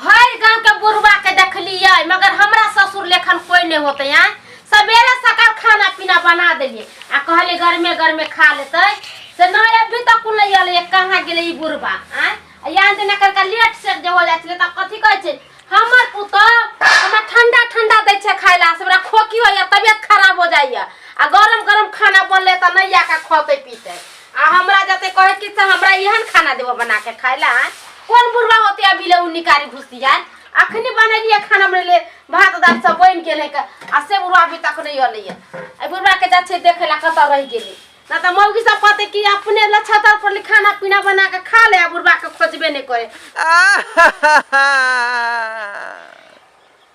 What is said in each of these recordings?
भरि गांव के बुढ़वा के देखलिए मगर हमरा ससुर लेखन कोई नहीं होते हैं सवेरे सकाल खाना पीना बना देलिए आ कहले घर में घर में खा लेते से ना अभी तक कुल नहीं आले कहाँ गेले ई बुढ़वा आय आ यहाँ से नकर का लेट से जे हो जाय छले त कथी कहै छै हमर पुतौ हमरा ठंडा ठंडा दै छै खाय ला हमरा खोकी होइया तबियत खराब हो जाइया आ गरम गरम खाना बनले त नहीं आके खते पीते आ हमरा जते कहे कि से हमरा एहन खाना देबो बना के खाए ला आँय? कोन बुढ़वा होते अभी ले उ निकारी घुस दिया अखनी बनेलिए खाना बनेले भात दाल सब बन गेल है का आ से बुढ़वा अभी तक नहीं अलै है आ बुढ़वा के जा छै देखे ला कतऽ रह गेलै ना तऽ मौगी सब कहते कि अपने ला छतर पर ले खाना पीना बना के खा ले आ बुढ़वा के खोजबे नहीं करे आहा!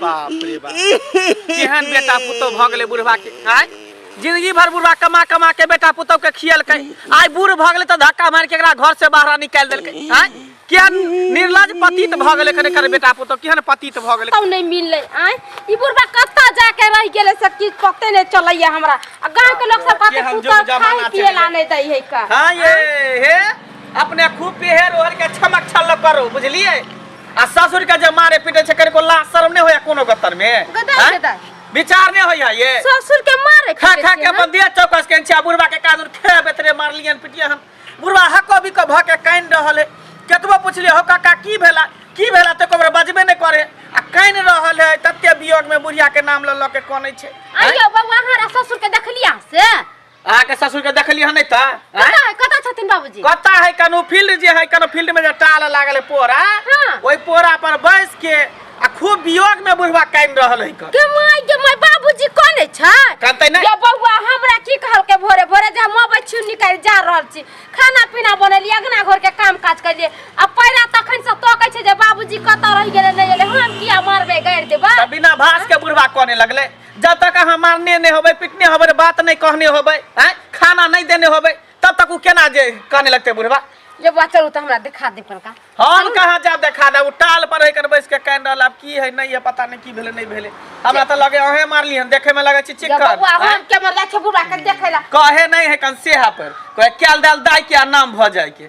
बाप रे बाप केहन बेटा पुतौ भऽ गेलै बुढ़वा के आय जिंदगी भर बुढ़वा कमा कमा के बेटा पुतौ के खियलकै आय बूढ़ भऽ गेलै तऽ धक्का मार के एकरा घर से बाहर निकाल देलकै आय केहन निर्लज पतित भऽ गेलै कने कर बेटा पुतौ केहन पतित भऽ गेलै कतौ नहीं मिलले आय ई बुढ़वा कत्ता जाके रह गेले से किछ पते नहीं चलैया हमरा आ गांव के लोग सब कहते केहन पुतौ जुग जमाना खाए पिए चलि ला नहीं दै है का हाँ ये हे अपने खूब पेहर ओहर के छमक छल करो बुझलिए आ ससुर के जे मारे पीटे छै कनिको लाज शर्म नहि होइया कोनो गतर में गदर हैं? गदर विचार नहि होइया ये ससुर के मारे खा खा के अपन देह चौकस के छिया बुढ़वा के कादुर खेबे बेतरे मारलियन पिटिया हम बुढ़वा हको भी को भ के काइन रहल है केतबो पूछलिए हो काका की भेला की भेला ते कोबरे बजबे नहि करे आ काइन रहल है तते वियोग में बुढ़िया के नाम ल ल के कोनै छै आइयो बौआ हमारा ससुर के देखलिया से अहाँके ससुर के देखलियै हन त कतऽ है कतऽ छथिन बाबूजी कत है कनु फील्ड जे है कनु फील्ड में जे टाल लागल है पोरा हाँ। ओहि पोरा पर बैस के आ खूब वियोग में बुढ़वा कान रहल है क के माय के माय बाबूजी कोने छै कहते नहीं ये बौआ हमरा की कहल के भोरे भोरे जे हम अबै छी निकल जा रहल छी खाना पीना बनलिए अंगना घर के काम काज करिए आ पैरा तखन से तोकै छै जे बाबूजी कतऽ रहि गेलै नहि गेलै हम किया मारबै गाड़ि देबै त बिना भास के बुढ़वा कोने लगले जब तक अहाँ मारने नहीं होबै पिटने होबै बात नहीं कहने होबै आँय खाना नहीं देने होबै तब तक ओ केना जे कहने लगतै बुढ़वा जब बा चलू तऽ हमरा देखा दे पड़का हम कहाँ जाब देखा दे ओ टाल पर है कर बैस के कान रहल आब की है नहीं है पता नहीं की भेलै नहीं भेलै हमरा तऽ लगे अहें मारली हन देखे में लगे छी जब चिक्कन बबुआ आँय? हम के मरला छै बुढ़ा के देखै ला कहे नहीं है कन सेहा पर कहे कैल दैल दाय के आ नाम भऽ जाय के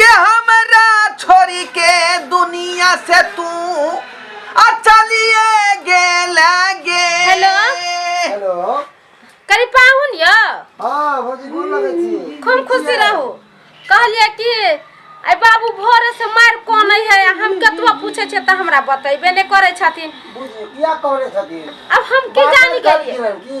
ये हमरा छोड़ी के दुनिया से तू आ चलिए गेल गे हेलो? हेलो करी पाहुन यौ हाँ भौजी गोर लगै छी खूब खुशी रहू कहलिए कि आइ बाबू भोरे से मारि कोन है हम कतबा पूछे छियै तऽ हमरा बतेबे नहि करै छथिन बुझी किया कहले छथिन अब हम की जानी गेलिए की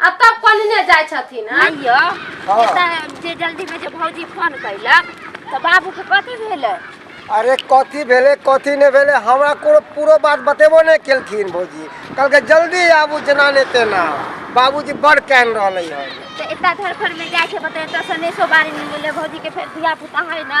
आ तब कोनने जाइ छथिन हँ? आइय हाँ। एतऽ जे जल्दी में जे भौजी फोन कैलक तऽ बाबू के कथी भेलै अरे कथी भेलै कथी नहि भेलै हमरा कोनो पूरो बात बतेबो नहि केलखिन भौजी कहलकै जल्दी आबू जेना नहि तेना बाबूजी बड़ कान रहलै हन तऽ एतऽ धरफर में जाइ छै बता एतऽ सनेशो बारी में बोले भौजी के फेर धिया पुता है ना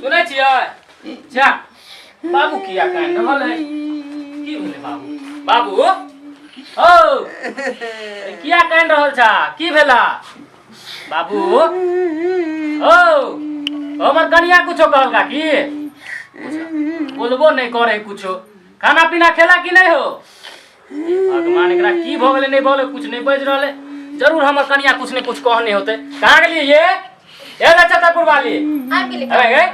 सुनै छियै जा बाबू किया कान रहल है की भेलै बाबू बाबू ओ अरे किया कान रहल छा की भेला बाबू ओ हमर कनिया कुछो कहलका की बोलबो नहीं करे कुछो खाना पीना खेला कि नहीं हो भगवान एकरा की भऽ गेलै नहि भऽ गेलै कुछ नहि बाजि रहलै जरूर हमर कनिया कुछ ने कुछ कहने होते कहाँ गेलियै ये ए नक्षत्रपुर वाली आबि गेली अरे ए,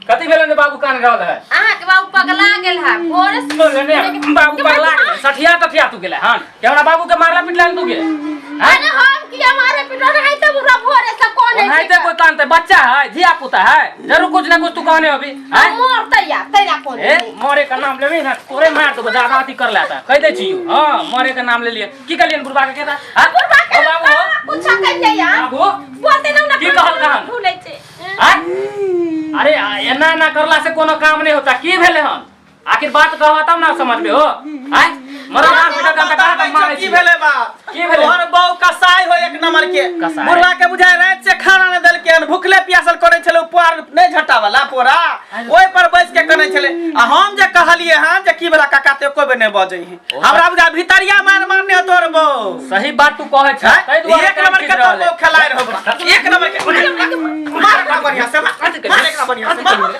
कथी भेलै ने बाबू कान रहल है अहाँके बाबू पगला गेल है भोरे से बोले ने बाबू पगला गेलै सठिया तठिया तू गेलै हन के हमरा बाबू के मारला पिटला तू गेलै हैं? अरे हम की हमारे पिटो रहे तब पूरा भोरे से कौन है ओनाहिते कोई कानते बच्चा है धिया पुता है जरूर कुछ ना कुछ तू कहने होबी हाँ? मरते या तेरा कौन ए मरे का नाम लेबे ना तोरे मार देबो दादा अथी कर लेता कह दे छी हां मरे का नाम ले लिए की कहलिए बुढ़वा के कहता हां बुढ़वा के बाबू हो कुछ कह ले या बाबू बोलते ना ना की कहल का हम भूले छे अरे एना ना करला से कोनो काम नहीं होता की भेले हम आखिर बात कहवा तब ना समझ में हो आय मरा मार बेटा का बेटा का मार की भेले बा की भेले? तोहर बहू कसाई हो एक नंबर के कसाई? बुढ़वा के बुझाय रात से खाना न देलके हन भूखले प्यासल करे छले ऊपर नहीं झटा वाला पोरा ओइ पर बैस के कने छले आ हम जे कहलिए हां जे की बला काका ते कोबे नहीं बजै है हमरा बुझा भितरिया मार मारने हो तोहर बहू सही बात तू कहे छ हैं? तै दुआरे एक नंबर के तोहर बहू खेलाय रहो एक नंबर के मार एकरा बढ़िया से मार एकरा बढ़िया से मार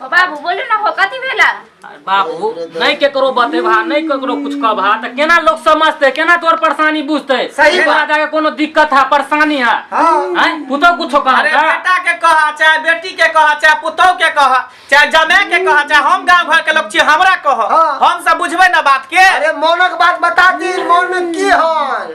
ओ बाबू बोलू ना हो कथी भेला अरे बाबू नहीं केकरो बतेबा नहीं केकरो कुछ कहबा त केना लोग समझते केना तोर परेशानी बुझते सही बात। तोरा जाके कोनो दिक्कत है परेशानी है हाँ। हैं पुतो कुछो अरे कहता बेटा के कहा चाहे बेटी के कहा चाहे पुतोह के कहा चाहे जमे के कहा चाहे हम गांव घर के लोग छियै हमरा कह हाँ। हम सब बुझबे ना बात के अरे मौनक बात बता दी मौन की हन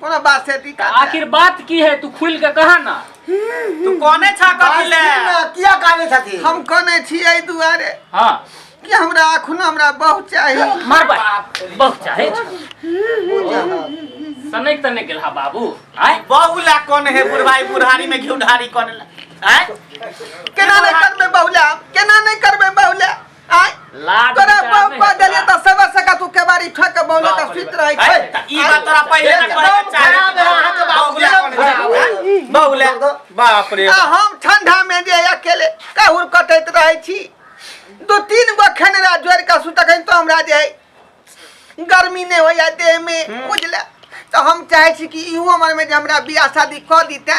कोना बात से दी काट आखिर बात की है तू खुल के कहा ना तू कोने छा कथी ले किया काने छथि हम कोने छी ए दुआरे हां कि हमरा अखुन हमरा बहुत चाही मार बा बहुत चाहे सनै तने गेल हा बाबू आय बहुला कोन है बुढ़ाई बुढ़ारी में घिउ ढारी कोन है केना नहीं करबे बहुला केना नहीं करबे बहुला आय लाज तोरा विचार बाप नहीं पा देले होता। त सबर सका तू केवारी ठक के बौले का सुत रहै छै अरे, त ई बात तोरा पहिले तक एकदम पहिले चाहे। खराब है, अहाँ के बाप बौगुला एकदम कोन खराब है। है? बौगुला। बाप रे आ हम ठंडा में जे अकेले काहुर कटैत रहै छी दू तीन गो खेनरा जोड़ के सुतखन तो हमरा जे है गर्मी नहीं होइया देह में बुझले तो हम चाहे छी कि इहो मन में जे हमरा बियाह शादी कऽ दीते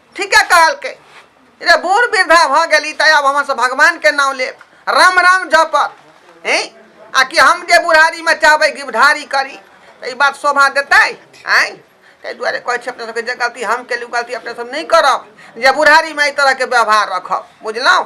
ठीके कहलकै रे बूढ़ वृद्धा भऽ गेली तऽ आब हमर भगवानके नाम लेब राम राम जपत हे आ कि हम जे बुढ़ारीमे चाहबै गिबधारी करी तऽ ई बात शोभा देतै आँय ताहि दुआरे कहै छी अपने सबके जे गलती हम केलहुँ गलती अपने सब नहि करब जे बुढ़ारीमे एहि तरहके व्यवहार रखब बुझलहुँ